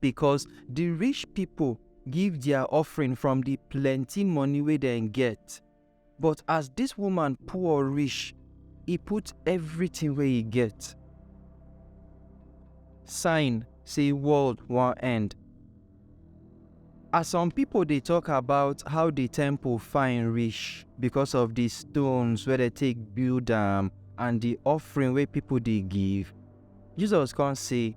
Because the rich people give their offering from the plenty money wey dem get. But as this woman poor reach, e put everything wey e get. Sign say world wan end. As some people dey talk about how the temple fine reach because of the stones wey dem take build am and the offering wey people dey give, Jesus come say,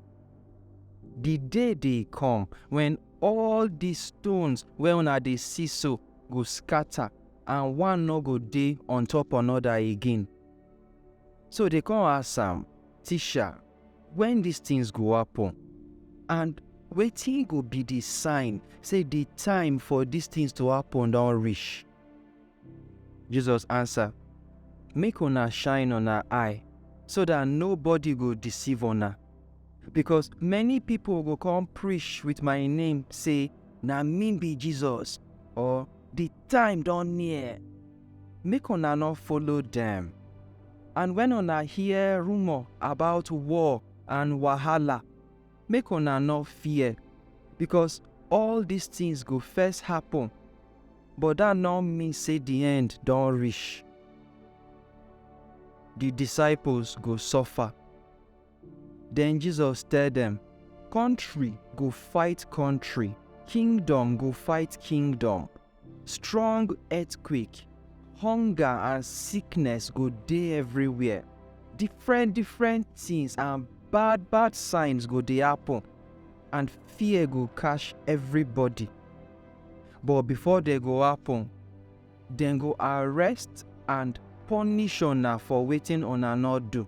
Di day dey kom wen all di stones wey una dey si so go skata and one nor go dey on-top anoda again. So dey kon ask am, Tisha, wen dis tins go happen? And wetin go bi di sign sey di time for dis tins to happen don rish? Jesus answer, Make una shine una eye, so that nobody go deceive una. Because many people go come preach with my name, say, Na me be Jesus, or the time don near. Make una no follow them. And when una hear rumor about war and wahala, make una no fear, because all these things go first happen, But dat no mean sey di end don rish. Di disciples go suffer. Den Jesus tell dem, Kontri go fight kontri, kingdom go fight kingdom. Strong earthquake, hunger and sickness go dey everywhere. Different different tins and bad bad signs go dey happen, and fear go catch everybody. but before dem go happen, dem go arrest and punish una for wetin una no do.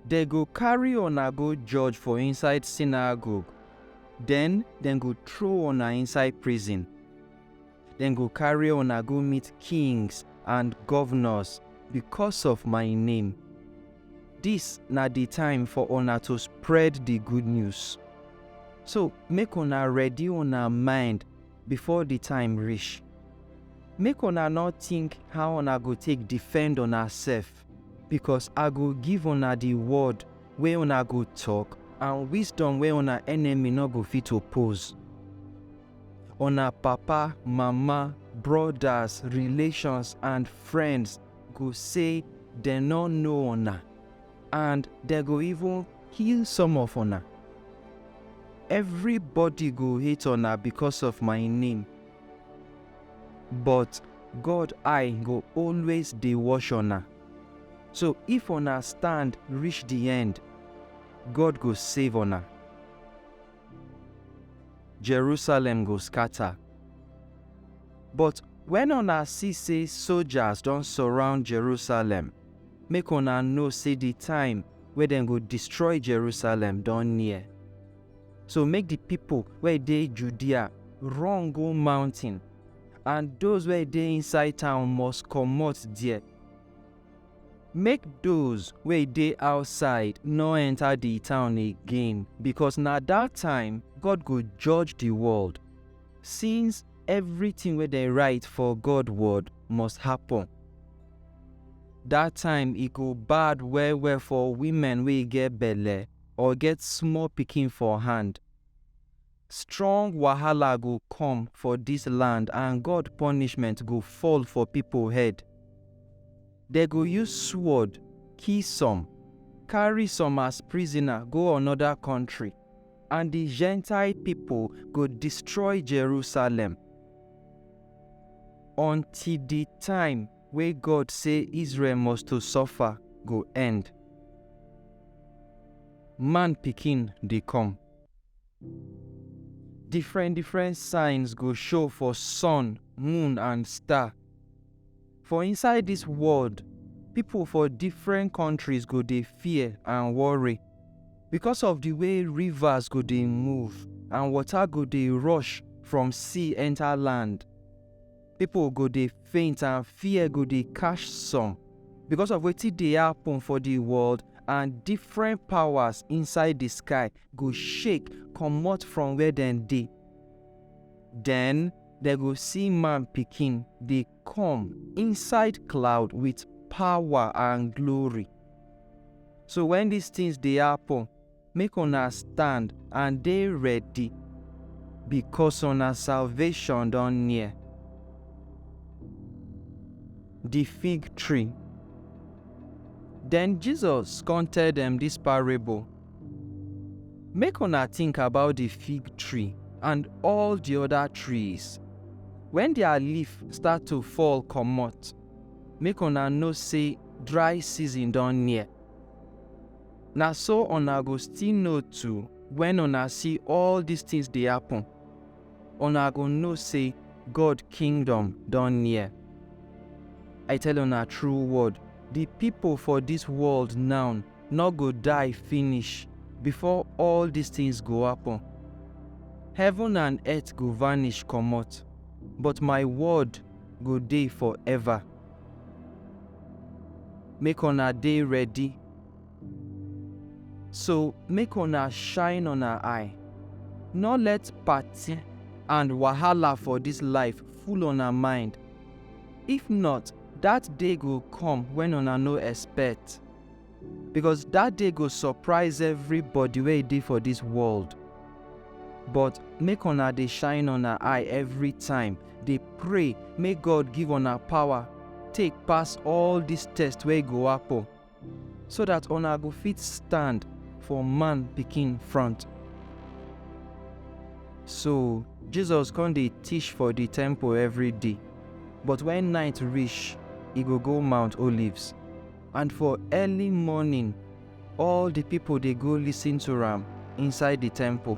Dem go carry una go judge for inside synagogue, den dem go throw una inside prison. Dem go carry una go meet kings and governors because of my name. Dis na di time for una to spread di good news. So make una ready una mind before di time rish. Make una nor tink how una go take defend unasef, bikos I go give una di word wey una go tok and wisdom wey una enemy nor go fit oppose. Una papa, mama, brodas, relations and friends go say dem no know una and dem go even kill some of una. Everybody go hate una because of my name, but God eye go always dey watch una. So if una stand reach the end, God go save una. Jerusalem go scatter. But wen una see sey sojas don surround Jerusalem, make una know sey di time wey dem go destroy Jerusalem don near. So make di pipo wey dey Judea run go mountain, and doz wey dey inside town must comot there. Make doz wey dey outside nor enta di town again, bikos na dat time God go judge di world, since evritin wey dem rite for God Word must happun. Dat time e go bad well-well for wimen wey get belle or get small pikin for hand. Strong wahala go come for dis land and God punishment go fall for pipo head. Dem go use sword kill some, carry some as prisoner go anoda kontri, and di Gentile pipo go destroy Jerusalem until di time wey God say Israel must to suffer go end. Man Pikin dey come. Different different signs go show for sun, moon and star. For inside dis world, pipo for different countries go dey fear and worry because of di way rivers go dey move and water go dey rush from sea enter land. Pipo go dey faint and fear go dey catch some because of wetin dey happen for di world and different powers inside di sky go shake comot from where dem dey. Den dem go see man pikin dey come inside cloud with power and glory. So wen dis tins dey happen, Make una stand and dey ready, bikos una salvashon don near. Di fig tree. Den Jesus kon tell dem dis parable, Make una tink about di fig tree and all di oda trees. Wen dia leaf start to fall komot, make una know sey dry season don near. Na so una go still know too wen una see all dis tins dey happen, una go know sey God Kingdom don near. I tell una true word, di pipo for dis world now nor go die finish before all dis tins go happen. Heaven and earth go vanish comot, but my word go dey forever. Make una dey ready. So make una shine una eye, nor let party and wahala for dis life full una mind, if not dat day go come wen una no expect, becos dat day go surprise everybody wey dey for dis world. But make una dey shine una eye every time, dey pray make God give una power take pass all dis test wey go happen. so dat una go fit stand for man pikin front. So, Jesus come dey teach for di temple every day, but wen night reach, e go go Mount Olives. And for early morning, all di pipo dey go listen to am inside di temple.